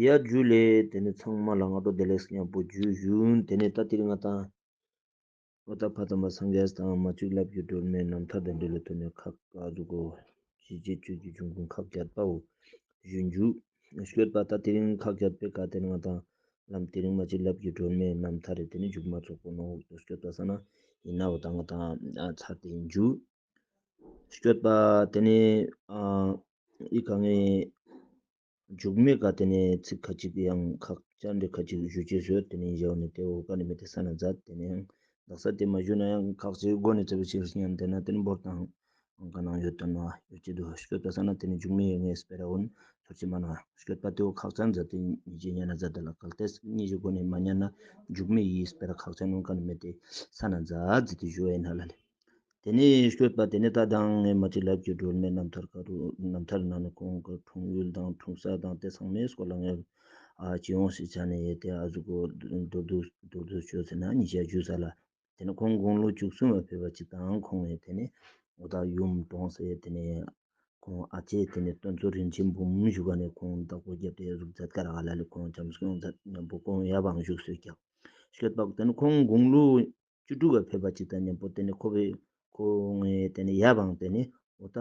ཡཱ་རྒྱུད་ལས། དེ་ནས་ཚངས་མ་ལ་སྔ་དྲོ་བདེ་ལེགས་སྙམ་པོ་རྒྱུ་བཞུགས། དེ་ནས་རྟ་ཏིལ་ལྔ་དང། ཨུ་ཏྃ་བྷ་དམ་པ་སངས་རྒྱས་དང་མ་གཅིག་བསླབ་ཀྱི་སྒྲོལ་མའི་རྣམ་ཐར་དང་འབྲེལ་ལོ་ཐོས་ནས་ཁ་བཀག་འདུག་གོ། ཞེས་རྗེས་གཅོད་ཀྱི་འབྱུང་ཁུངས་ཁ་བརྒྱད་པའོ། བཞུད་འཇུག། བཤོས་པ་རྟ་ཏིལ་ཁ་བརྒྱད་པའི་བཀའ་ཏིལ་ལྔ་དང། ལམ་ཏིལ་མ་གཅིག་བསླབ་ཀྱི་སྒྲོལ་མའི་རྣམ་ཐར་རེ་དེ་ནི་འཇུག་མ་ཚོགས་པོ་ནོ་འོག་ཏུ་བཤོས་པ་ས་ན་ཡིན་ནའོ་ད་ང་དང་ཚར་ཏེ་འཇུག། བཤོས་པ་དེ་ནི། ཨི་ག་ངའི། འཇུག་མེད་ག་དེ་ནས་ཚིག་ཁ་ཅིག་ཡང་ཁག་བཅར་འདྲི་ཁ་ཅིག་ཞུ་ཅེས་ཟེར་དེ་ནས་བཞག་ནས་དེ་འོག་ག་ནས་མི་དེ་ས་ན་བཟའ་དེ་ནས་ཡང་བདག་ས་དེ་མ་ཞུས་ན་ཡང་ཁག་ཅིག་སྒོ་ནས་ཚེ་བུ་ཆེ་བཞི་ཉམས་དེ་ན་དེ་ནས་འབོར་དང་ཨང་ག་ནང་ཡོད་དོ་ན་ཡོད་ཀྱི་འདུག་ཤོད་པ་ས་ན་དེ་ནས་འཇུག་མེད་ཡོད་ངེས་སྤེ་ར་འོན་ཚོར་ཅི་མ་ན་ཤོད་པ་དེ་འོག་ཁག་བཅར་མཛད་དེ་གཉིས་ཀྱིས་གཉའ་ན་བཟའ་དེ་ལ་གལ་ཏེ་གཉིས་ཀྱི་སྒོ་ནས་མ་གཉའ་ན་འཇུག་མེད་ཡིས་སྤེ་ར་ཁག་བཅར་ནོན་ག་ནས་མི་དེ་ས་ན་བཟའ་བརྫི་དེ་ཞུ་བ་ཡིན་ན་ལ་ལས། དེ་ནས་བཤོས་པ་དེ་ནས་ད་དང་ངའི་མ་ཅིག་ལབ་ཀྱི་སྒྲོལ་མའི་རྣམ་ཐར་ཁ་རུ་རྣམ་ཐར་ནང་ནས་ཁོང་གི་འཁྲུངས་ཡུལ་དང་འཁྲུངས་ས་དང་དེ་ཚང་མའི་སྐོར་ལ་ངས་ཨ་ཅི་ཡོང་ཞིག་བྱ་ནས་ཡོད་དེ་ཨ་ཟུག་གོ་མདོར་བསྡུ་མདོར་བསྡུ་བྱོས་ཟེར་ན་ཉིས་བརྒྱ་བཅུ་ཟ་ལ། དེ་ནས་ཁོང་དགུང་ལོ་བཅུ་གསུམ་བ་ཕེབས་པ་ཅིག་དང་ཁོང་ནས་དེ་ནས་འོ་ད་ཡུམ་གྲོང་ཟེར་དེ་ནས་ཁོང་ཨ་ཅེ་དེ་ནས་དོན་གཙོ་རིན་ཆེན་འབུམ་བཞུགས་པ་ནས་ཁོང་བདག་པོ་བརྒྱབ་སྟེ་གཟུགས་མཛད་ཀར་ཨ་ལ་ལས་ཁོང་བྱམས་སྐྱོང་མཛད་ཉམས་པོ་ཀོང་ཡབ་འང་བཞུགས་སོས་ཀྱང་བཤོས་པ་དེ་ནས་ཁོང་དགུང་ལོ་བཅུ་དྲུག་བར་ཕེབས་པ་ཅིག་དང་མཉམ་པོ་དེ་ནི་ཁོ་བོས་ཁོ་ངའི་དེ་ནི་ཡབ་ཨང་དེ་ནི་ཨོ་ད་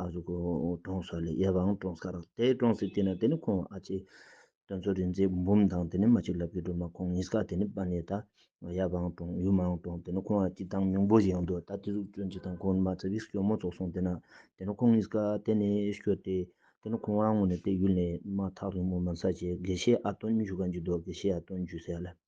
ཨ་ཟུག་གོ་གྲོང་སོ་ལས་ཡབ་ཨང་གྲོང་སྐར་དེ་གྲོང་སྲིད་དེ་ན་དེ་ནི་ཁོང་ཨ་ཅེ་དོན་ཚོ་རིན་ཚེ་འབུམ་དང་དེ་ནི་མ་ཅིག་ལབ་ཀྱི་སྒྲོལ་མ་ཁོང་གཉིས་ཀ་དེ་ནི་པ་ནི་ད་ཡབ་ཨང་གྲོང་ཡུམ་ཨང་གྲོང་དེ་ནི་ཁོང་ཨ་ཅེ་དང་མྱོང་པོ་ཞིག་ཨང་འདུག་ད་དེ་ཟུག་སྐྱོན་ཅིག་དང་ཁོང་ནི་མ་ཚ་བིས་སྐྱོ་མོ་ཚོགས་སོང་དེ་ན་དེ་ནི་ཁོང་གཉིས་ཀ་དེ་ནི་ཤོད་དེ་དེ་ནི་ཁོང་རང་ངོ་ནས་དེ་ཡུལ་ནས་མ་ཐག་རིང་མོ་མ་ཚ་ཆེ་དགེ་བཤེས་ཨ་སྟོན་འཇུ་ག་འཇུ་མདོག་དགེ་བཤེས་ཨ་སྟོན་འཇུ་སའི་ལབ།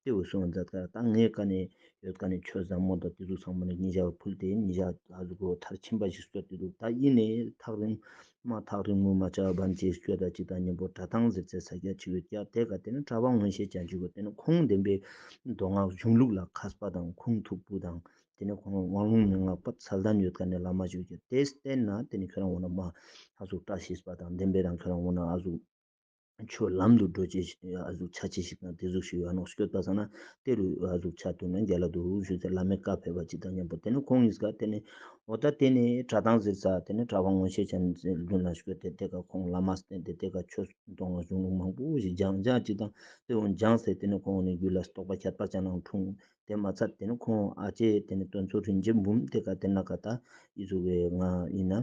ལྟེ་བའི་སྲུང་བ་འཛག་དཀར་དང་ལྔའི་ཀ་ནས་ཡོད་ཀ་ནས་ཆོས་བཟང་མོ་དང་བདུད་དུག་ཚང་མ་ནས་ཉིན་ཞག་ཕུལ་ཏེ་ཉིན་ཞག་དག་གི་སྒོ་ཐར་ཕྱིན་པ་ཞིག་གསོལ་ཏེ་དུག་དག་དབྱིངས་ནས་ཐག་རིང་མ་ཐག་རིང་མོ་མ་ཆགས་བར་མཛེས་སྤྱོད་དང་སྤྱི་དང་གཉེན་པོ་གྲྭ་ཐང་ཟེར་ཚད་ས་སྐྱ་ཆེ་བའི་སྐྱ་དེ་ག་དེ་ནི་གྲྭ་པ་མངོན་ཤེས་ཅན་ཞིག་གོ་དེ་ནི་ཁོང་འདེམས་པའི་མདོ་སྔགས་གཞུང་ལུགས་ལ་ཁ་གསབ་པ་དང་ཁུངས་ཐུབ་པོ་དང་དེ་ནི་ཁོང་དབང་ལུང་མན་ངག་པ་ཚལ་དམ་ཡོད་ཀ་ནས་བླ་མ་ཞིག་གོ་དེས་བསྟན་ན་དེ་ནི་ཁྱོད་རང་འོ་ན་མ་ཨ་གཟུགས་བཀྲ་ཤིས་པ་དང་འདེམས་པའི་རང་ཁྱོད་རང་འོ་ན་ཨ་གཟུགས། ཆོས་ལམ་དུ་འགྲོ་བྱེད་ཆ་ཅི་ཞིག་དང་དེ་གཟུགས་ཞིག་ཡོད་ནོ་སྐྱོ་ད་ཟ་ན་དེ་རུ་གཟུགས་ཆ་དུ་ནས་འགལ་ལ་འདུག་ཞུ་ཚེ་བླ་མས་བཀའ་ཕེབས་པ་ཅི་དང་སྙམ་པ་དེ་ནས་ཁོང་གཉིས་ཀ་དེ་ནས་འོ་ད་དེ་ནས་གྲ་ཐང་ཟིར་ཚ་དེ་ནས་གྲ་བ་ངོ་ཤེས་ཆམ་ཟིན་རྒྱུན་ལ་ཞོས་ཏེ་དེ་ག་ཁོང་བླ་མ་སྟེན་ཏེ་དེ་ག་ཆོས་གཏོང་བ་གཞུང་ལུགས་མང་པོ་ཞིག་སྦྱང་བྱ་ཅི་དང་དེ་འོ་སྦྱང་ཟེར་དེ་ནས་ཁོང་ནས་རྒྱུད་ལ་རྟོགས་པ་ཁྱད་པར་ཅང་ནང་འཁྲུངས་དེ་མ་ཚར་དེ་ནས་ཁོང་ཨ་ཅེ་དེ་ནས་སྟོན་ཚོ་རིན་ཆེན་འབུམ་དེ་ག་དེ་ན་ག་ད་ཡིད་ཚོར་བའི་ངང་ཡིན་ན།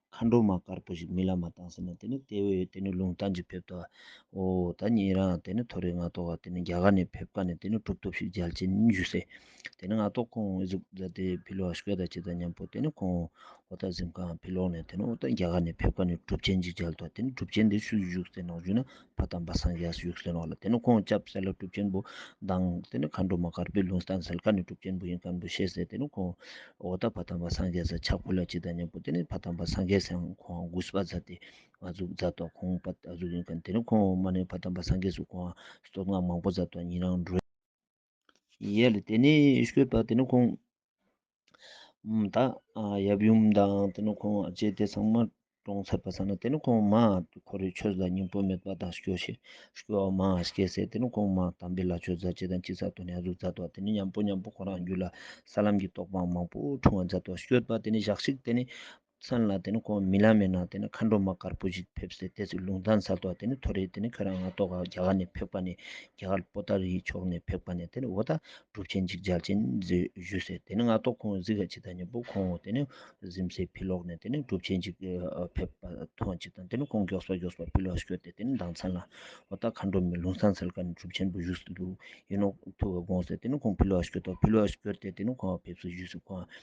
མཁའ་འགྲོ་མ་དཀར་པོ་ཞིག་མི་ལ་མ་བཏང་ཟེར་ན་དེ་ནི་ལྟེ་བའི་དེ་ནི་ལུང་བསྟན་གྱི་ཕེབས་ལྟ་བའོ། ད་ངེད་རང་དེ་ནི་ཐོ་རེ་ང་ཐོག་ག་དེ་ནི་རྒྱ་གར་ནས་ཕེབས་ཀ་ནས་དེ་ནི་གྲུབ་ཐོབ་ཞིག་རྒྱལ་ཆེན་བཞུགས་སའི་དེ་ནི་ང་ཐོག་ཁོང་གཟུགས་བཟའ་དེ་ཕི་ལོག་ཤི་ག་ད་ཅི་ད་སྙམ་པོ་དེ་ནི་ཁོང་འོ་ད་གཟིམ་ཁའང་ཕི་ལོག་ནས་དེ་ནི་འོ་ད་རྒྱ་གར་ནས་ཕེབས་ཀ་ནས་གྲུབ་ཆེན་གྱི་རྒྱལ་ཐོག་དེ་ནི་གྲུབ་ཆེན་དེ་ཆུ་བཞུགས་སའི་ནང་བཞུགས་ན་པ་དམ་པ་སངས་རྒྱས་སུ་ཡུགས་སེར་བ་ལ་དེ་ནི་ཁོང་ཅག་བསལ་ལ་གྲུབ་ཆེན་པོ་དང། དེ་ནི་མཁའ་འགྲོ་མ་དཀར་པོའི་ལུང་དང་སེལ་ཁ་ནི་གྲུབ་ཆེན་པོ་ཡིན་གང་དུ་ཤེས་ཟེར་དེ་ནི་ཁོང་འོག་ད་བ་དམ་པ་སངས་རྒྱས་ཟེར་ཕྱག་ཕུར་ལ་སྤྱི་དང་མཉམ་པོ་དེ་ནི་བ་དམ་པ་སངས་རྒྱས་ཟེར་ཁོང་དགུ་བ་བཛྲ་སྟེ་ང་གཟུགས་བཛྲ་ཏོག་ཁོང་པ་གཟུགས་ཡིན་གང་དེ་ནི་ཁོང་འོག་མ་ནི་བ་དམ་པ་སངས་རྒྱས་སུ་ཁོང་སྟོབས་སྔགས་མང་པོ་བཛྲ་ཏོག་ཉིད་རང་གྲོལ། ཡལ་ལ་དེ་ནས་བཤོས་པ་དེ་ནི་ཁོང་དང་ཡབ་ཡུམ་དང་དེ་ནི་ཁོང་བཅས་དེ་ཚང་མ་གྲོངས་ཚར་པ་ས་ན་དེ་ནི་ཁོང་མ་ཁོ་རེ་ཆོས་ལ་སྙིང་པོ་མེད་པ་དང་སྐྱོ་ཤས་སྐྱོ་བ་མང་བ་སྐྱེས་ཚེ་དེ་ནི་ཁོང་མ་དམ་པའི་ལ་ཆོས་མཛད་ཅེས་དང་ཅི་ས་ཐོ་ནས་གཟུགས་མཛད་དོ་དེ་ནི་མཉམ་པོ་མཉམ་པོ་ཁོ་རང་རྒྱུད་ལ་ས་ལམ་གྱི་རྟོགས་པའང་མང་པོ་འཁྲུངས་བ་མཛད་དོ་བཤོས་པ་དེ་ནི་ཞག་གཅིག་དེ་ནི་མཚན་ལ་དེ་ནི་ཁོང་རྨི་ལམ་ཡིན་ན་དེ་ནི་མཁའ་འགྲོ་མ་དཀར་པོ་ཞིག་ཕེབས་སའི་ལྟས་ཚེ་ལུང་ཐང་ཚར་དོག་དེ་ནི་ཐོ་རེད་དེ་ནི་ཁྱོད་རང་ང་ལྟོགས་ཁར་རྒྱ་གར་ནས་ཕེབས་ཀ་ནས་རྒྱ་གར་སྤོ་ལྟར་ཡིད་ཕྱོགས་ནས་ཕེབས་ཀ་ནས་དེ་ནི་འོ་ད་སྒྲུབ་ཆེན་ཅིག་སྦྱར་ཅན་བཞུད་ཟེར་དེ་ནི་ང་ལྟོགས་ཁོང་གཟིགས་ཀ་ཅིག་ད་ཉིན་པོ་ཁོང་དེ་ནི་གཟིམ་སའི་ཕི་ལོག་ནས་དེ་ནི་སྒྲུབ་ཆེན་ཅིག་ཕེབས་པ་མཐོང་ཅིག་དང་དེ་ནི་ཁོང་མགྱོགས་སོ་མགྱོགས་སོ་ཕི་ལོག་བཤོས་ཏེ་དེ་ནི་མདང་མཚན་ལ་འོ་ད་མཁའ་འགྲོ་མའི་ལུང་ཐང་ཚར་ཀ་ནས་སྒྲུབ་ཆེན་པོ་བཞུགས་སུ་འདུག་ཡིན་ནོ་ཐུགས་ཀ་དགོངས་ཟེར་དེ་ནི་ཁོང་ཕི་ལོག་བཤོས་ཏོ་ཕི་ལོག་བཤོས་ཏེ་དེ་ནི་ཁོང་ཕེབས་སུ་བཞུད་ཟེར་ཁོང་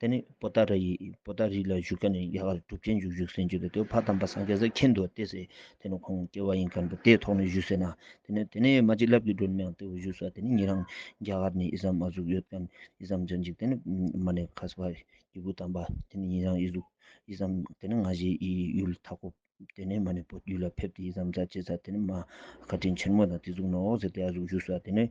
དེ་ནས་པོ་ཏཱ་ར་ཡིས་པོ་ཏཱ་རི་ལ་བཞུགས་སྐབས་ནས་རྒྱ་གར་གྲུབ་ཆེན་འཇུག་བཞུགས་ཟེར་གྱི་འདུག་དེ་བར་དམ་པ་སངས་རྒྱས་ཟེར་གྱིན་འདུག་དེ་སྲིད་དེ་ནས་ཁོང་སྐྱེ་བ་ཡིན་གྱི་འདུག་དེའི་ཐོག་ནས་བཞུགས་ཟེར་ན་དེ་ནས་དེ་ནས་མ་གཅིག་ལབ་ཀྱི་འགྲོ་ནི་མི་ཡང་དེ་འོག་བཞུགས་ཟེར་དེ་ནས་ངེད་རང་རྒྱ་གར་ནས་ཨི་ཟ་མ་གཟུགས་ཡོད་སྐབས་ཨི་ཟ་མ་འཇོན་ཅིག་དེ་ནས་མ་ནས་ཁ་སི་བ་རྒྱལ་བུ་དམ་པ་དེ་ནས་ངེད་རང་ཨི་གཟུགས་ཨི་ཟ་མ་དེ་ནས་ང་བཞི་ཨི་ཡུལ་མཐའ་འཁོབ་དེ་ནས་མ་ནས་བོད་ཡུལ་ལ་ཕེབས་ཏེ་ཨི་ཟ་མ་རྫ་བཅས་ཚར་དེ་ནས་མ་ཁ་དྲིན་ཆེན་མོ་དང་དེ་གཟུགས་ནོག་ཟེར་དེ་ཨ་གཟུགས་བཞུགས་ཟེར་དེ་ནས་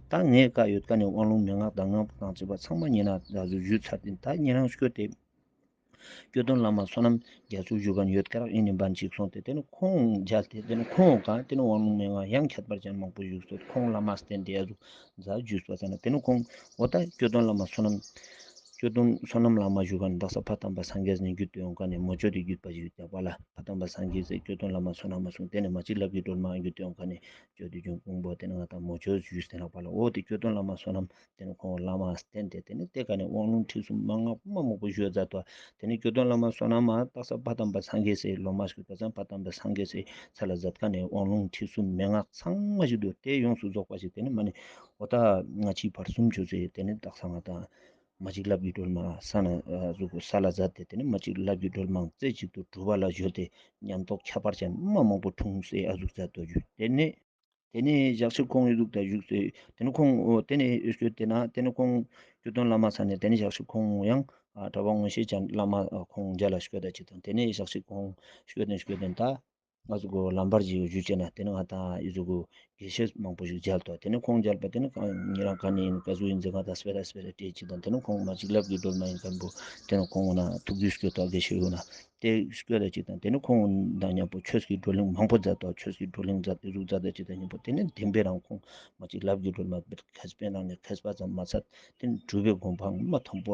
ད་ངས་བཀའ་ཡོད་བཀའ་ནས་དབང་ལུང་མན་ངག་དང་ངང་པ་དང་བཅས་པ་ཚང་མ་ཉན་ན་རྒྱ་མཚོ་བཞུད་ཚར་དེ་ད་ངེད་རང་བསྐྱོད་དེ། སྐྱོད་དོན་བླ་མ་བསོད་ནམས་རྒྱ་མཚོ་བཞུད་ག་ནས་ཡོད་སྐད་རག་ཨེ་ནས་འབའ་འཇིགས་སོང་དེ་དེ་ནས་ཁོང་མཇལ་དེ་དེ་ནས་ཁོང་ག་དེ་ནས་དབང་ལུང་མན་ངག་ཡང་ཁྱད་པར་ཅན་མང་པོ་བཞུགས་སོ་ཁོང་བླ་མ་སྟན་དེ་རུ་རྫ་བཞུད་སོ་ཟེར་ན་དེ་ནས་ཁོང་འོ་ད་སྐྱོད་དོན་བླ་མ་བསོད་ནམས། སྐྱོད་དོན་བསོད་ནམས་བླ་མ་བཞུད་ག་ནས་བདག་ས་ཕ་དམ་པ་སངས་རྒྱས་ནས་བརྒྱུད་དེ་འོང་ག་ནས་མོ་ཅོ་དེ་བརྒྱུད་པ་ཞིག་རྒྱག་པ་ལ་ཕ་དམ་པ་སངས་རྒྱས་ཟེར་སྐྱོད་དོན་བླ་མ་བསོད་ནམས་མ་གསུངས་དེ་ནས་མ་གཅིག་ལབ་ཀྱི་སྒྲོལ་མ་འགྱུར་དེ་འོང་ག་ནས་སྤྱོད་དུ་འཇུག་ཕུང་པོ་སྟེ་ནགས་དང་མོ་ཆོས་ཞུས་ཟིན་ལགས་པ་ལ་འོག་ཏུ་སྐྱོ་སྟོན་བླ་མ་བསོད་ནམས་དེ་ནི་ཁོང་བླ་མའང་བསྟེན་ཏེ་དེ་ནས་གཏེར་ཁ་ནས་དབང་ལུང་ཁྲིད་གསུམ་མ་སྔགས་དབུ་མ་མོག་པོ་བཤོས་རྫ་ཐོག་དེ་ནས་སྐྱོ་སྟོན་བླ་མ་བསོད་ནམས་མ་སྟག་ས་བ་དམ་པ་སངས་རྒྱས་སྲས་ལོ་མ་ཞིག་བ་ཚན་བ་དམ་པ་སངས་རྒྱས་སྲས་ཚེ་ལ་ཛབ་ཁ་ནས་དབང་ལུང་ཁྲིད་གསུམ་མན་ངག་ཚང་མ་ཞིག་འདུག་དེ་ཡོངས་སུ་རྫོགས་པ་ཞིག་དེ་ནས་མ་ནི་ཨོ་ད་ང་ཕྱིའི་བར་གསུམ་བྱོས་ཚེ་དེ་ནས་སྟག་ས་ང་དང། མ་གཅིག་བླ་བརྒྱུད་སྒྲོལ་མ་ས་ན་གཟུགས་ཀྱི་ས་ལ་བཟའ་སྟེ་དེ་ནས་མ་གཅིག་བླ་བརྒྱུད་སྒྲོལ་མ་རྩེ་གཅིག་ཏུ་གྲུ་བ་ལ་བཞུར་ཏེ་ཉམས་རྟོགས་ཁྱད་པར་ཅན་མ་མང་པོ་འཁྲུངས་སའི་ཨ་གཟུགས་རྩལ་རྡོ་རྒྱུད་དེ་ནས། དེ་ནས་ཞག་ཕྱིར་ཁོང་ཨི་གཟུགས་དར་བཞུགས་སའི་དེ་ནས་ཁོང་དེ་ནས་ཨི་གསོས་དེ་ན་དེ་ནས་ཁོང་རྒྱུ་སྟོན་བླ་མ་ས་ནས་དེ་ནས་ཞག་ཕྱིར་ཁོང་ཡང་གྲྭ་བ་དངོས་ཤེས་ཅན་བླ་མ་ཁོང་རྒྱ་ལ་བཤོས་ད་ཅིག་དང་དེ་ནས་ཞག་ཕྱིར་ཁོང་བཤོས་དོན་བཤོས་དོན་ད། ང་ཚོ་གོ་ལམ་བར་གྱི་ཡོ་བྱུས་བྱས་ན་དེ་ནི་ང་དང་ཡོ་ཚོ་གོ་དགེ་བཤེས་མང་པོ་ཞིག་མཇལ་ཐོག་དེ་ནི་ཁོང་མཇལ་བ་དེ་ནི་ངེད་རང་ག་ནས་ཡིན་ག་ཚོད་ཡིན་ཟེར་གང་དང་སྤེལ་ར་སྤེལ་ར་སྤྲད་ཅིག་དང་དེ་ནི་ཁོང་མ་གཅིག་ལབ་གི་སྒྲོལ་མ་ཡིན་མཁན་པོ་དེ་ནི་ཁོང་ན་ཐུག་དུས་སྐྱོ་ཐོག་དགེ་བཤེས་ཡོད་ན་དེ་སྐྱོ་ལ་ཅིག་དང་དེ་ནི་ཁོང་དང་མཉམ་པོ་ཆོས་ཀྱི་བགྲོ་གླེང་མང་པོ་མཛད་ཐོག་ཆོས་ཀྱི་བགྲོ་གླེང་མཛད་དུས་གཟུགས་རྩ་དད་ཅིག་དང་གཉིས་པོ་དེ་ནི་བདེན་པའི་རང་ཁོངས་མ་གཅིག་ལབ་གི་སྒྲོལ་མ་སྤེལ་གལ་སྤེལ་རང་ནས་གལ་སྤ་ཙམ་མ་ཚད་དེ་ནི་གྲུབ་པའི་སྒོམ་སྤང་མ་དང་པོ་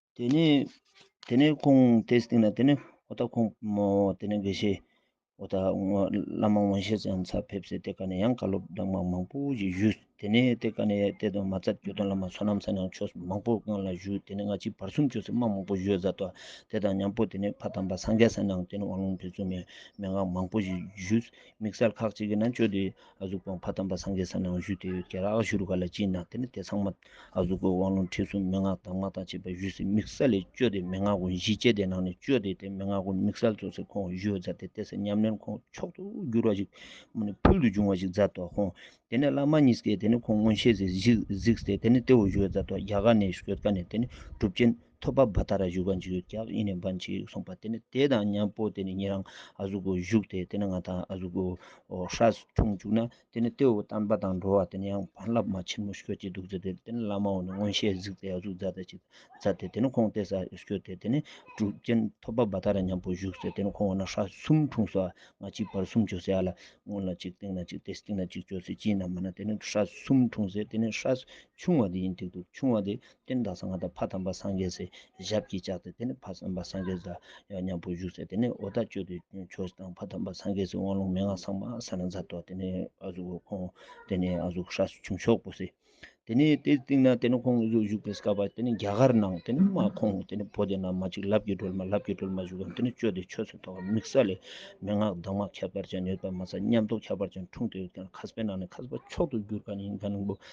དེ་ནས་དེ་ནས་ཁོང་དེས་དེ་ནས་དེ་ནས་ཨོ་ད་ཁོང་མོ་དེ་ནས་དགེ་བཤེས་ཨོ་ད་བླ་མ་དབང་ཤེས་ཙམ་ཚར་ཕེབས་སའི་དེ་ག་ནས་ཡང་བཀའ་སློབ་སྦྲགས་མ་མང་པོ་ཞིག་ཞུས་དེ་ནས་དེ་ག་ནས་དེ་དང་མ་རྩ་གྱོད་དོན་བླ་མ་བསོད་ནམས་ཚ་ནང་ཆོས་མང་པོ་སྔོན་ལ་བཞུགས་དེ་ནས་སྔ་ཕྱི་བར་གསུམ་ཆོས་སྲིད་མང་མང་པོ་བཞུགས་བཟའ་ཐོ་དེ་དང་མཉམ་པོ་དེ་ནས་ཕ་དམ་པ་སངས་རྒྱས་ས་ནང་དེ་ནས་དབང་ལུང་དེ་ཚུལ་མེད་མན་ངག་མང་པོ་ཞིག་ཞུས་དམིགས་བསལ་ཁག་ཅིག་གིས་ན་ཆོས་འདི་ཨ་གཟུགས་དབང་བྷ་དམ་པ་སངས་རྒྱས་ས་ནང་བཞུགས་དེ་ཡོད་རྒྱལ་ར་ཨ་ཤུ་རུ་ཀ་ལ་སྤྱིན་དང་དེ་ནས་དེ་ཚང་མ་ཨ་གཟུགས་པོའི་དབང་ལུང་ཁྲིད་གསུམ་མན་ངག་གདམས་ངག་དང་བཅས་པ་བཞུགས་སའི་དམིགས་བསལ་ལས་བཅོལ་ཏེ་མན་ངག་ཀུན་གཞི་བཅས་དེ་ནང་ནས་བཅོལ་ཏེ་དེ་མན་ངག་ཀུན་དམིགས་བསལ་གཙོ་སའི་ཁོངས་བཞུགས་མཛད་དེ་དེ་སྲས་ཉམས་ལེན་ཁོང་མཆོག་ཏུ་གྱུར་བ་ཞིག་མུ་ནས་ཕུལ་དུ་བྱུང་བ་ཞིག་མཛད་དོ། ཁོང་དེ་ནས་བླ་མ་གཉིས་སྐྱེས་དེ་ནས་ཁོང་མངོན་ཤེས་སུ་གཟིགས་ཏེ་དེ་ནས་ཏེའུ་བཞུགས་མཛད་དོ། རྒྱ་གར་ནས་བཞུགས་ཀ་ནས་དེ་ནས་གྲུབ་ཆེན། ཐོད་པ་བ་ད་ར་བཞུགས་པ་འཇིགས་ཡོད་སྐྱབས་ཨིན་ནས་འབའ་འཇིགས་ཡོད་གསུངས་པ་དེ་ནི་དེ་དང་མཉམ་པོ་དེ་ནི་ངེད་རང་ཨ་ཟུག་གོ་བཞུགས་དེ་དེ་ནི་ང་དང་ཨ་ཟུག་གོ་ཧྲ་སུ་འཁྲུངས་བཅུག་ན་དེ་ནི་ཏེའུ་བསྟན་པ་དང་འགྲོ་བ་དེ་ནི་ཡང་བར་བསླབ་མ་ཆེན་མོ་ཤོད་ཀྱི་འདུག་ཟེར་དེ་དེ་ནི་བླ་མའོ་ནི་མངོན་ཤེས་གཟིགས་ཏེ་ཨ་ཟུག་བཛྲ་ད་ཅིག་བཛྲ་དེ་དེ་ནི་ཁོང་ལྟས་ས་ཤོད་དེ་དེ་ནི་གྲུབ་རྐྱེན་ཐོད་པ་བ་ད་ར་མཉམ་པོ་བཞུགས་ཟེར་དེ་ནི་ཁོང་བ་ན་ཧྲ་གསུམ་འཁྲུངས་སོ་ཨ་ང་གཅིག་བར་གསུམ་བྱོ་སེ་ཨ་ལ་སྔོན་ལ་གཅིག་སྟེང་ན་གཅིག་དེ་སྟེང་ན་གཅིག་བྱོ་སེ་གཅིག་ན་མ་ན་དེ་ནི་ཧྲ་གསུམ་འཁྲུངས་ཟེར་དེ་ནི་ཧྲ་སུ་ཆུང་བ་དེ་ཡིན་དེ་འདུག་ཆུང་བ་དེ་སྟན་དང་སྔགས་དང་ཕ་དམ་པ་སངས་རྒྱས་སྲས་ཞབས་ཀྱིས་བཅགས་ཏེ་དེ་ནས་ཕ་དམ་པ་སངས་རྒྱས་ལ་ཡང་སྙམ་པོ་བཞུགས་ཚེ་དེ་ནས་འོ་ད་བསྐྱོད་དུ་ཆོག་དང་ཕ་དམ་པ་སངས་རྒྱས་སྲས་དབང་ལུང་མན་ངག་ཚང་མ་ས་ན་འཛར་ཏོ་དེ་ནས་ཨ་གཟུགས་འོག་ཁོང་དེ་ནས་ཨ་གཟུགས་ཧྲཱི་བྱུང་ཤོག་པོ་སྲིད། དེ་ནས་དེ་སྟེང་ན་དེ་ནས་ཁོང་གཟུགས་བཞུགས་པའི་སྐལ་པ་དེ་ནས་རྒྱ་གར་ནང་དེ་ནས་མ་ཁོང་དེ་ནས་བོ་དེ་ན་མ་གཅིག་ལབ་ཀྱི་སྒྲོལ་མ་ལབ་ཀྱི་སྒྲོལ་མ་བཞུགས་ཀྱང་དེ་ནས་བསྐྱོད་དེ་ཆོས་ཚུལ་ཐོག་དམིགས་ས་ལས་མན་ངག་གདམས་ངག་ཁྱད་པར་ཅན་ཡོད་པ་མ་ཚད་ཉམས་རྟོགས་ཁྱད་པར་ཅན་འཁྲུངས་ཏེ་ཡོད་ཀྱང་ཁ་སྤེ་ནང་ནས་ཁ་སྤེ་མཆོག་ཏུ་གྱུར་ག་ནི་ཡིན་ག་ནིང་པོ་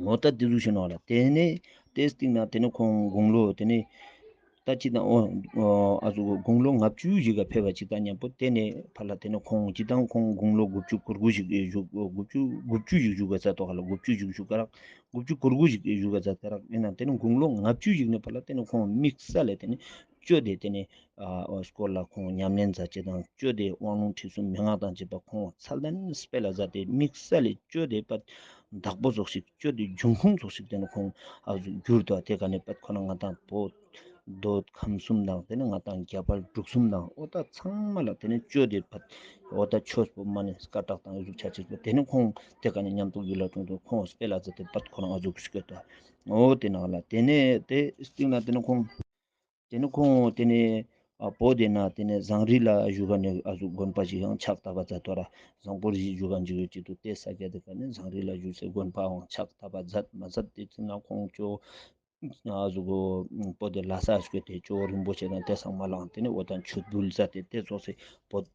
ངོ་ལྟ་དེ་གཟུགས་བྱུང་ན་ལ་དེ་ནི་དེ་སྟེང་ན་དེ་ནི་ཁོང་དགུང་ལོ་དེ་ནི་ལྟ་ཅི་དང་འོ་ཨ་ཟུག་དགུང་ལོ་ལྔ་བཅུའི་གཞིས་ཀ་ཕེབས་པ་ཅིག་དང་མཉམ་པོ་དེ་ནི་ཕ་ལ་དེ་ནི་ཁོང་ཅི་དང་ཁོང་དགུང་ལོ་དགུ་བཅུ་གོ་དགུ་ཞིག་བཞུགས་དགུ་བཅུ་དགུ་བཅུ་ཞིག་བཞུགས་པ་ཚ་ཏོག་ཧ་ལ་དགུ་བཅུ་ཞིག་བཞུགས་ཀ་རག་དགུ་བཅུ་གོ་དགུ་ཞིག་བཞུགས་ཀ་ཚ་ཏེ་རག་ཡིན་ན་དེ་ནི་དགུང་ལོ་ལྔ་བཅུ་ཞིག་ནི་ཕ་ལ་དེ་ནི་ཁོང་དམིགས་ས་ལས་དེ་ནི་སྤྱོད་བདེ་དེ་ནི་ཨོས་སྐོར་ལ་ཁོང་ཉམས་ལེན་མཛད་རྗེས་དང་སྤྱོད་བདེའི་དབང་ལུང་ཁྲིད་གསུམ་མན་ངག་དང་བཅས་པ་ཁོང་ཚ་ལན་སྤེལ་ལ་བཟའ་སྟེ་དམིགས་བསལ་སྤྱོད་བདེའི་པད་བདག་པོ་རྫོགས་ཤིག་སྤྱོད་བདེའི་འབྱུང་ཁུངས་རྫོགས་ཤིག་དེ་ནི་ཁོང་བསྒྱུར་ཏོ་དེ་ག་ནས་པད་ཁོ་ན་ང་དང་བོ་ཟློ་ཁམས་གསུམ་དང་དེ་ནི་ང་དང་རྒྱལ་བར་འབྲུག་གསུམ་དང་ཨོ་ད་ཚང་མ་ལ་དེ་ནི་སྤྱོད་བདེའི་པད་ཨོ་ད་ཆོས་སྤོབས་མ་ནི་སྐ་བྲག་དང་གཟུགས་ཆ་གཅིག་པོ་དེ་ནི་ཁོང་དེ་ག་ནས་ཉམས་རྟོགས་ཡུལ་ལ་བྱུང་དུས་ཁོང་སྤེལ་ལ་བཟའ་སྟེ་པད་ཁོ་ན་ང་རྫོགས་ཤིག་ཨོ་དེ་ནག་ལ་དེ་ནས་དེ་གཅིག་ན་དེ་ནི་ཁོང། དེ་ནི་ཁོང་དེ་ནི་པོ་དེ་ན་དེ་ནི་བཟང་རིགས་ལ་བཞུགས་པ་ནི་ཨ་ཟུག་དགོན་པ་ཞིག་ཡང་ཕྱག་བཏབ་པ་མཛད་དོ་ར་བཟང་པོར་གཞིས་བཞུགས་ཀ་འཇིགས་ཡོད་ཅིག་ཏུ་བལྟས་ས་སྐད་དེ་ཁ་ནི་བཟང་རིགས་ལ་བཞུགས་སའི་དགོན་པའང་ཕྱག་བཏབ་པ་མཛད་མ་མཛད་དེ་ཚུན་ན་ཁོང་ཅོ་ཨ་ཟུག་གོ་པོ་དེ་ལ་ས་བཞུགས་དེ་ཅོ་རིན་པོ་ཆེ་དང་དེ་སང་མ་ལངས་དེ་ནི་འོ་ད་མཆོད་འབུལ་མཛད་དེ་དེ་རྫོགས་སའི་པོ།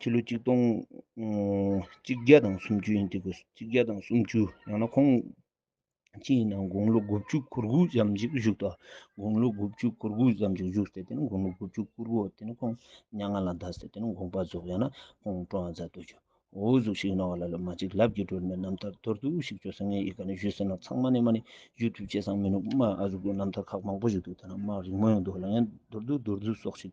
ཕྱི་ལོ་གཅིག་སྟོང་གཅིག་བརྒྱ་དང་སུམ་ཅུ་ཡིན་འདུག་གོ་གཅིག་བརྒྱ་དང་སུམ་ཅུ་ཡང་ན་ཁོང་ཅི་ཡིན་ནམ་དགུང་ལོ་དགུ་བཅུ་གུར་དགུ་ཙམ་ཞིག་བཞུགས་དོ་དགུང་ལོ་དགུ་བཅུ་གུར་དགུ་ཙམ་ཞིག་བཞུགས་ཟེར་དེ་ནི་དགུང་ལོ་དགུ་བཅུ་གུར་དགུ་དེ་ནི་ཁོང་ཉག་ང་ལ་འདའ་ཟེར་དེ་ནི་དགོངས་པ་རྫོགས་ཡང་ན་ཁོང་སྤྲོ་བ་མཛད་དུ་བྱོན་འོ་གཟུགས་ཤིག་གནང་བ་ལ་ལོ་མ་གཅིག་ལབ་ཀྱི་སྒྲོལ་མའི་རྣམ་ཐར་མདོར་བསྡུས་ཤིག་བརྗོད་ས་ངས་ཡི་ག་ནས་བཞུད་ཟེར་ན་ཚང་མ་ནས་མ་ནས་བཞུད་ཐུབ་བྱས་སང་མི་ནུབ་མ་ཨ་རུ་ཀའི་རྣམ་ཐར་ཁག་མང་པོ་བཞུད་འདུག་ཐ་ན་མ་རིག་མོའི་མདོ་ལ་ཡང་མདོར་བསྡུས་མདོར་བསྡུས་སོགས་ཤིག་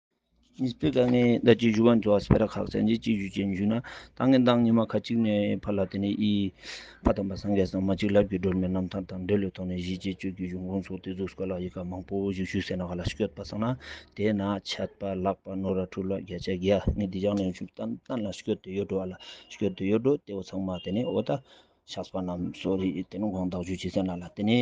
ཉིས་སྟོད་དཀའ་ངལ་ཟླ་གཅིག་བཞུགས་ཁང་ཇོ་ཨ་སི་བྷེ་ར་ཁག་ཚན་རྩལ་སྤྱི་བཅུ་ཅན་བཞུགས་ན་ད་ངེད་མདང་ཉི་མ་ཁ་གཅིག་ནས་ཕར་ལ་དེ་ནས་ཨི། ཕ་དམ་པ་སངས་རྒྱས་སངས་མ་གཅིག་ལབ་ཀྱི་སྒྲོལ་མའི་རྣམ་ཐར་དང་འབྲེལ་ལོའི་ཐོག་ནས་གཞིས་བྱེས་བཅུ་དགུའི་གཞུང་གོང་སོགས་དེ་ཚོ་སྐོར་ལ་ཡི་ག་མང་པོ་ཞིག་ཞུས་ཟེར་ན་ག་ལ་ཤོད་པ་སང་ན་དེ་ན་ཆད་པ་ལགས་པ་ནོར་ར་འཁྲུག་ལ་བརྒྱ་ཆ་བརྒྱ་ངས་འདི་བཞག་ནས་ཞུ་གཏན་ལ་ཤོད་དུ་ཡོད་འགྲོ་བ་ལ་ཤོད་དུ་ཡོད་འགྲོ་དེ་བོ་ཚང་མ་དེ་ནས་འོ་ད། ཆགས་པ་རྣམས་སོ་རེ་དེ་ནི་གང་དག་རྒྱུ་བྱས་ཟིན་ལ་ལ་དེ་ནི་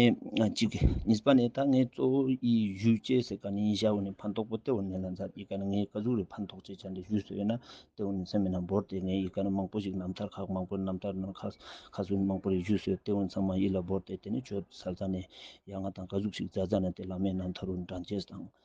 གཅིག་གི་གཉིས་པ་ནི་ད་ངའི་གཙོ་བོ་ཡི་རྒྱུ་བྱས་ཟེར་ག་ནི་ཡིན་ཞའོ་ནི་ཕན་ཐོགས་པོ་ཏེའོ་ནི་ལ་འཛར་ཡི་ག་ནི་ངའི་བཀའ་ཟུར་རེ་ཕན་ཐོགས་བྱས་བྱ་འདི་ཞུས་སོ་ཡོད་ན་ཏེའོ་ནི་མཚན་མེད་ན་འབོར་ཏེ་ངའི་ཡི་ག་ནི་མང་པོ་ཞིག་རྣམ་ཐར་ཁག་མང་པོ་རྣམ་ཐར་ནང་ཁག་ཁག་སུ་ནི་མང་པོ་རེ་ཞུས་སོ་ཏེའོ་ནི་ཚང་མ་ཡིད་ལ་འབོར་ཏེ་དེ་ནི་ཆོས་ཟ་ཟ་ནི་ཡ་ང་དང་བཀའ་ཟུར་ཞིག་བཟའ་བཟའ་ནི་དེ་ལ་མའི་རྣམ་ཐར་རུ་འདྲ་མཇལ་དང་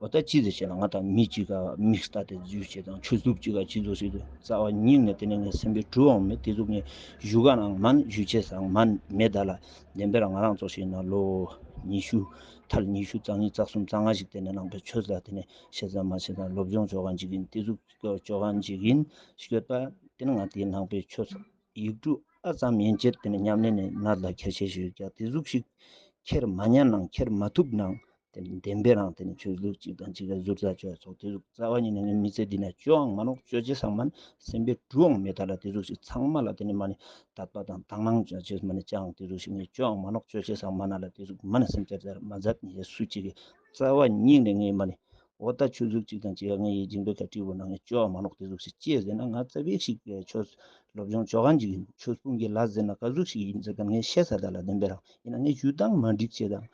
བ་ལྟར་གཅིག་ཟེར་བྱས་ལ་ང་དང་མི་གཅིག་ག་མིག་ལྟ་སྟེ་རྫུས་བྱེད་དང་ཆུ་གཟུགས་གཅིག་ག་སྤྱི་གཟུགས་ཞིག་ཏུ་རྩ་བ་ཉིད་ངས་དེ་ནས་ངའི་སེམས་པའི་གྲུ་འོང་མེད་དེ་གཟུགས་ངའི་བཞུགས་སྒར་ནའང་མིན་བཞུགས་ཆས་སའང་མིན་མེད་བདག་ལ་བདེན་པས་ལ་ང་རང་ཚོ་ཞིག་ན་ལོ་ཉི་ཤུ་མཐར་ཉི་ཤུ་རྩ་གཉིས་རྩ་གསུམ་རྩ་ལྔ་ཞིག་དེ་ནས་བླངས་པའི་ཆོས་ལ་དེ་ནས་བཤད་ཙམ་མ་བྱས་ཙམ་སློབ་སྦྱོང་ཆོ་ག་འཇིག་ཡིན་དེ་གཟུགས་ཆོ་ག་འཇིག་ཡིན་ཤོད་པ་དེ་ནས་ང་དེའི་ནང་པའི་ཆོས་ཡིག་གྲུ་ཨ་ཙམ་ཡན་ཆད་དེ་ནས་ཉམས་ལེན་ནས་ནར་ལ་ཁྱེར་ཆས་ཞིག་ཀྱང་དེ་གཟུགས་ཤིག་ཁྱེར་མ་མྱངས་ནའང་ཁྱེར་མ་ཐུབ་ནའང་བདེན་པའི་རང་དེ་ནི་ཆོས་ལུགས་གཅིག་དང་གཅིག་ལ་གཟུར་ཟ་བྱ་བའི་ཚོགས་དེ་གཟུགས་རྩ་བ་ཉིད་ནི་མི་ཚེ་འདི་ན་སྤྱོའང་མ་ནོག་སྤྱོད་བྱེད་ཚང་མ་ནི་སེམས་པའི་འགྲུའང་མེད་ད་ལ་དེ་གཟུགས་ཞིག་ཚང་མ་ལ་དེ་ནི་མ་ནི་དག་པ་དང་དག་སྣང་བྱ་བྱེད་མ་ནི་བྱའང་དེ་གཟུགས་ཞིག་ངས་སྤྱོའང་མ་ནོག་སྤྱོད་བྱེད་ཚང་མ་ན་ལ་དེ་གཟུགས་མ་ནི་སེམས་ཅད་དར་མ་རྫ་ནི་ཡས་སུ་གཅིག་གི་རྩ་བ་ཉིད་ནི་ངས་མ་ནི། འོ་ད་ཆོས་ལུགས་གཅིག་དང་གཅིག་ག་ངའི་ཡིད་འགྱིངས་པའི་གར་ཁྲིའི་བོ་ན་ངས་སྤྱོའང་མ་ནོག་དེ་གཟུགས་ཞིག་སྐྱེས་ཟེར་ན་ང་རྩ་བའི་ཤིག་པའི་ཆོས་སློབ་སྦྱོང་ཆོ་ག་འཇིག་ཆོས་སྤུངས་ཀྱི་ལ་ཟེར་ན་ག་གཟུགས་ཞིག་ཡིན་ཟེར་སྐབས་ངས་བཤད་ས་ད་ལ་བདེན་པའི་རང་ཡིན་ན་ངས་ཡུལ་དང་མ་འགྲིག་བྱེད་དང་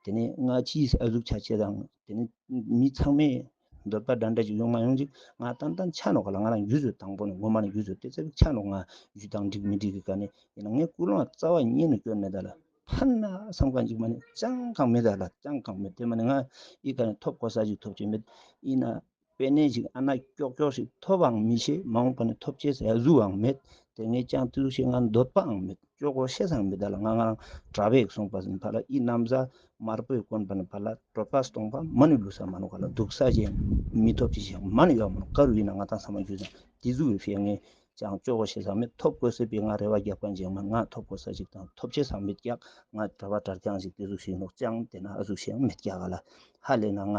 དེ་ནས་སྔ་ཕྱིའི་ཨ་གཟུགས་ཆ་བྱད་དང། དེ་ནས་མི་ཚང་མས་འདོད་པ་འདྲ་འདྲ་ཞིག་ཡོང་མ་ཡོང་ཅིག་ང་ཏན་ཏན་ཆ་ནོག་ག་ལ་ང་རང་རྒྱུད་བཟོད་དང་པོ་ནས་ངོ་མ་ནས་རྒྱུད་བཟོད་དེ་ཚེ་བིག་ཆ་ནོག་ང་རྒྱུད་དང་འགྲིག་མི་འགྲིག་གི་ག་ནས་ཡིན་ན་ངའི་སྐུ་ལང་རྩ་བ་ཉིད་ནས་སྐྱོན་མེད་ད་ལ་ཕ་ན་བསམ་གང་ཅིག་མ་ནས་ཅང་གང་མེད་ད་ལ་ཅང་གང་མེད་དེ་མ་ནས་ང་ཡི་ག་ནས་ཐོབ་གོ་ས་ཞིག་ཐོབ་ཀྱི་མེད་ཡིན་ན་དཔེ་གནས་ཤིག་ཨ་ན་ཀྱོག་ཀྱོག་ཞིག་ཐོབ་པའང་མི་ཤེས་མ་འོངས་པ་ནི་ཐོབ་བྱའི་ཟས་གཟུགས་འང་མེད་དེ་ངས་ཅང་ཏེ་ལུག་ཤེས་ང་འདོད་པའང་མེད་ཅོག་གོ་ཤེས་སའང་མེད་ད་ལ་ང་ང་རང་གྲྭ་བས་གསུངས་པ་བཞིན་ཕ་ལ་ཨི་གནམ་ས་དམར་པོས་བསྐོན་པ་ནི་ཕ་ལ་གྲོད་པ་སྟོང་པ་མ་ནི་ལུས་ས་མ་ནི་ག་ལ་སྡུག་ས་གཞན་མི་ཐོབ་ཅི་ཞིག་མ་ནི་ཡོག་མ་ནི་དཀར་བའི་ན་ང་དང་ས་མ་རྒྱུ་ཅང་ཏེ་གཟུགས་བའི་ཕས་ངས་ཅང་ཅོག་གོ་ཤེས་སའང་མེད་ཐོབ་དགོས་ཟེར་པས་ང་རེ་བ་རྒྱག་པ་འཇིགས་མ་ང་ཐོབ་དགོས་ས་ཞིག་དང་ཐོབ་བྱའི་སའང་མེད་ཀྱག་ང་གྲྭ་བ་གྲྭ་རྐྱང་ཞིག་ཏེ་གཟུགས་ཤིག་ནོག་ཅང་ཏེ་ན་ཨ་གཟུགས་ཤིག་འང་མེད་ཀྱག་ཨ་ལ་ཧ་ལས་ན་ང།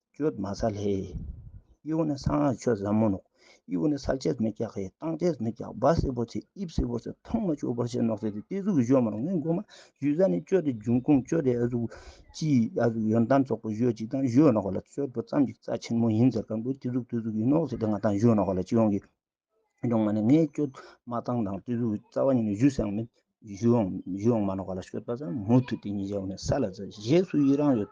ཀྱོད་མ་ས་ལྷའི། དབྱུག་ནི་གསང་སྔགས་ཆོས་ཟབ་མོ་ནོག། དབྱུག་ནི་ས་བཅད་མི་རྒྱག་གི་སྟངས་བཅད་མི་རྒྱག་སྦ་སེར་པོ་ཚེ་དབྱིབས་སེར་པོ་ཚེ་ཐོག་མ་ཆོས་འཁོར་བྱེད་ནོག་ཚེ་དེ་སྟེ་གཟུགས་ཀྱི་གཞོན་མར་ངན་མགོ་མ་གཞུས་ས་ནི་ཀྱོད་དེ་འབྱུང་ཁུངས་ཀྱོད་དེ་ཨ་གཟུགས་སྤྱི་ཡི་ཨ་གཟུགས་ཡོན་ཏན་ཚོགས་པའི་གཞོན་གཅིག་དང་གཞོན་ནོག་ལ་ཆོས་པོ་ཙམ་གྱི་རྩ་ཆེན་མོ་ཡིན་ཟེར་གང་པོའི་སྟེ་གཟུགས་སྟེ་གཟུགས་ཀྱི་ནོག་ཚེ་དེ་ང་དང་གཞོན་ནོག་ལ་སྤྱི་ཡོངས་ཀྱི་གཞོན་མ་ནི་ངས་ཀྱོད་མ་སྟངས་དང་སྟེ་གཟུགས་ཀྱི་རྩ་བ་ཉིད་ནི་གཞུས་སའང་མིན། གཞུས་ཡོངས་མ་ནོག་ལ་ཞོད་པ་ཙམ་མུ་མཐུད་དེ་ཉིད་བཞག་པ་ནི་ས་ལ་རྩ་བཞེས་སུ་ཡི་རང་ཡོད།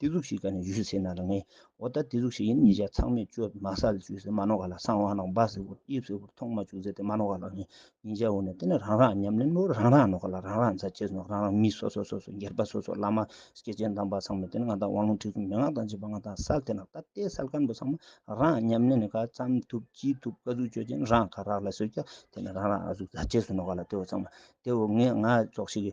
དེ་གཟུགས་ཤིག་ག་ནས་བཞུད་ཟེར་ན་ལ་ངའི་འོ་ད་དེ་གཟུགས་ཤིག་ཡིན་ཉེ་ཆར་ཚང་མས་བཅོས་པའི་མ་ས་ལ་བཅོས་ཟེར་མ་ནོར་ག་ལ་སང་བ་ནང་སྦ་ཟེར་བུར་དབྱིབས་ཟེར་བུར་ཐོག་མ་བཅོས་ཟེར་དེ་མ་ནོར་ག་ལ་ངའི་ཉེ་ཆར་འོ་ན་དེ་ནི་རང་རང་ཉམས་ལེན་ནོར་རང་རང་ནོར་ག་ལ་རང་རང་རྫ་ཆས་ནོར་རང་རང་མི་སོ་སོ་སོ་སོ་འགྱེར་པ་སོ་སོ་བླ་མ་སྐྱེས་ཆེན་དམ་པ་ཚང་མས་དེ་ནི་ང་དང་དབང་ལུང་ཁྲིད་གསུམ་མན་ངག་དང་བཅས་པ་ང་དང་སལ་དེ་ནང་ད་ལྟའི་སལ་སྐམ་པོ་ཚང་མ་རང་ཉམས་ལེན་ནི་ག་ཙམ་ཐུབ་ཅི་ཐུབ་ག་གཟུགས་བཅོས་ཅན་རང་ག་རག་ལ་ཟེར་ཀྱང་དེ་ནི་རང་རང་ཨ་གཟུགས་རྫ་ཆས་སུ་ནོར་ག་ལ་དེ་འོ་ཚང་མ་དེ་འོ་ངས་ང་རྫོགས་ཤིག་གི་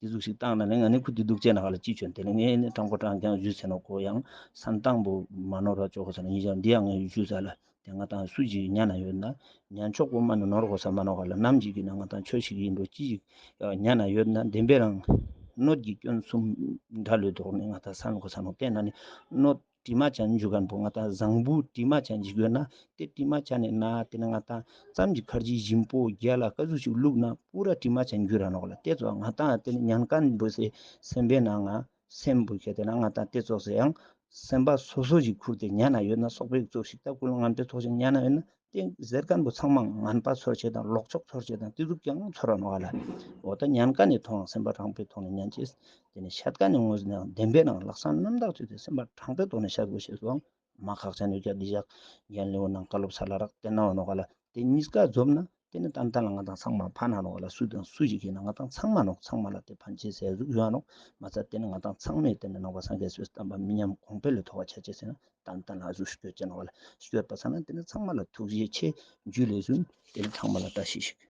དེ་གཟུགས་ཤིག་བཏང་ན་ནི་ང་ནི་ཁུ་དུས་སྡུག་སྤྱད་ན་ཧ་ལ་ཅི་བྱོན་དེ་ནི་ངས་ནི་སྤྲང་པོ་སྤྲང་ཀྱང་བཞུད་ཟེར་ནོ་ཁོ་ཡང་ས་འདང་པོ་མ་ནོར་བར་སྤྱོད་གོ་ཟེར་ན་ཉིད་ཀྱང་འདི་ཡང་ངས་བཞུད་ཟེར་ལ་དེ་ང་དང་སུ་གཅིག་གཉའ་ན་ཡོད་ན་ཉན་མཆོག་པོ་མ་ནི་ནོར་གོ་ཟེར་མ་ནོར་བ་ལ་ནམ་གཅིག་གིས་ན་ང་དང་ཁྱོད་ཞིག་ཡིན་འགྲོ་ཅི་ཞིག་གཉའ་ན་ཡོད་ན་བདེན་པའི་རང་གནོད་ཀྱིས་སྐྱོན་གསུམ་འདྲ་ལོས་ལྡོག་ནས་ང་དང་ས་འགོ་ས་ནོར་བསྟན་ན་ནི་གནོད། བཀྲིས་མ་བྱ་འཇུག་གམ་པོ་ང་དང་བཟང་པོའི་བཀྲིས་མ་བྱ་འཇིག་ཡོད་ན་དེ་བཀྲིས་མ་བྱ་ནས་ན་དེ་ན་ང་དང་ཙམ་གྱི་ཁར་ཇི་བཞིན་པོ་རྒྱལ་ལ་བཀའ་ཟུར་ཞིག་བླུག་ན་པུ་ར་བཀྲིས་མ་བྱ་འཇུག་ར་ནོག་ལ་དེ་ཚོ་ང་དང་དེ་ནས་ཉན་དཀའ་འདུག་ཟེ་སེམས་པའི་ནང་ང་སེམས་པོ་ཁྱེད་དེ་ན་ང་དང་དེ་ཚོགས་ཟེ་ཡང་སེམས་པ་སོ་སོ་ཞིག་ཁུར་དེ་ཉན་ན་ཡོད་ན་སོག་པོའི་ཚོགས་ཞིག་སྟབས་ཀུ་ལོ་ངམ་དེ་ཚོགས་ཞིག་ཉན་ན་ཡོད་ན་རྟེན་གཟེར་སྐམ་པོ་ཚང་མ་ངན་པ་ཚོར་བྱེད་དང་ལོག་ཕྱོགས་ཚོར་བྱེད་དང་གཏི་སྒྲུབ་ཀྱང་ཚོར་བར་སྣང་བ་ལ། འོ་ད་ཉན་ཀ་ནས་ཐོག་ནང་སེམས་པ་དྲང་པོའི་ཐོག་ནས་ཉན་ཅིག། དེ་ནས་ཤད་ཀ་ནས་ངོས་ཟིན་ནའང་བདེན་པའི་ནང་ལག་སང་རྣམ་དག་ཚུད་དེ་སེམས་པ་དྲང་པོའི་ཐོག་ནས་བཤད་དགོས་ཞེས་སུའང་མ་ཁག་ཅན་ནུས་རྒྱ་འདི་བཞག། ཡན་ལེའུ་ནང་བཀའ་སློབ་ཚར་ལ་རག་དེ་སྣང་བ་ནོར་ག་ལ་དེ་གཉིས་ཀ་རྫོབ་ན་དེ་ནི་ཏན་ཏན་ལ་ང་དང་ཚང་མ་ཕ་ན་ནོར་ག་ལ་སུ་དང་སུ་ཞིག་གིས་ན་ང་དང་ཚང་མ་ནོར་ཚང་མ་ལ་དེ་ཕན་ཆེ་ཟས་གཟུགས་ཡོད་ཡང་ནོར་མ་ཚར་དེ་ནི་ང་དང་ཚང་མས་དེ་ནི་ནོར་བ་སངས་རྒྱས་སུས་བསྟན་པ་མི་ཉམས་གོང་འཕེལ་ལས་མཐོ་བ་ཆ་ཆེ་ཟེར་ན་དང་ལྟ་ན་གཟུགས་སྤྱོད་ཅན་བ་ལ་སྤྱོད་པ་ཚང་ན་དེ་ནི་ཚང་མ་ལ་ཐུགས་རྗེ་ཆེ་རྒྱུད་ལས་གསུངས་དེ་ནི་ཚང་མ་ལ་བཀྲ་ཤིས་ཤིག།